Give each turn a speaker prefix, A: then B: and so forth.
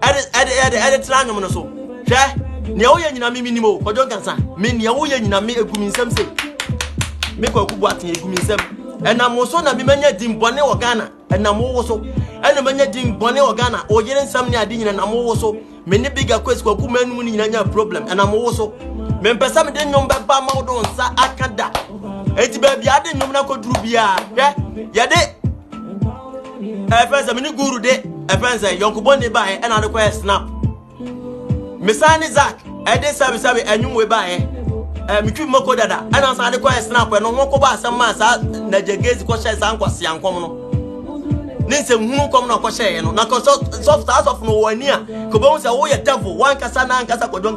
A: ɛde ɛde ɛde ɛde tena anwom no so hwɛ nea woyɛ nyina me menim o kɔdwo nkansa me nea woyɛ nyina me egu me nsɛm se me kwaku bu aten egu me nsɛm ɛnam wo so na memanya din bɔne wɔ ghana ɛnam wo so ɛna manya din bɔne wɔ ghana oyere nsɛm ne ade nyina nam wo so me ne biga kwesi kwaku manum no nyina nya problem ɛnam wo so mempɛ sɛ mede nnwom bɛba ma wo do nsa aka da enti baabi ade nnwom no akɔduru biara hwɛ yɛde ɛfɛn sɛ mene guru de ɛfɛn sɛ yɔnkobɔ ne baeɛ ɛna de kɔyɛ snap mesan ne zak ɛde sɛbesɛbe anwumwe baeɛ ɛɛ metwi mako dada ɛna san de kɔyɛ snap ɛno ho kɔbɔ asɛm maa saa na gyegezi kɔhyɛ saa nkwasi ankɔm no ne nsɛm hunu kɔm na ɔkɔhyɛeɛ no na kɔ sɔfo saa sɔfo no wɔ ani a kɔbɛhu sɛ woyɛ devil wankasa na ankasa kɔdwɔn